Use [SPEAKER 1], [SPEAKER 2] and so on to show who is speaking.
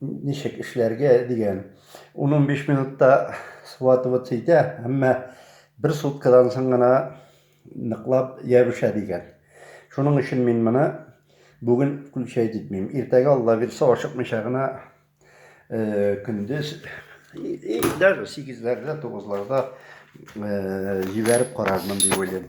[SPEAKER 1] ничек эшләргә дигән. Ун-унбиш минутта схватываться итә, әмма бер суткадан соң гына ныклап ябыша дигән. Шуның өчен мин моны бүген включать итмим. Иртәгә алла бирсә ашыкмыйча гына э, көндез даже сигезләрдә, тугызларда э, җибәреп карармын дип уйлыйм.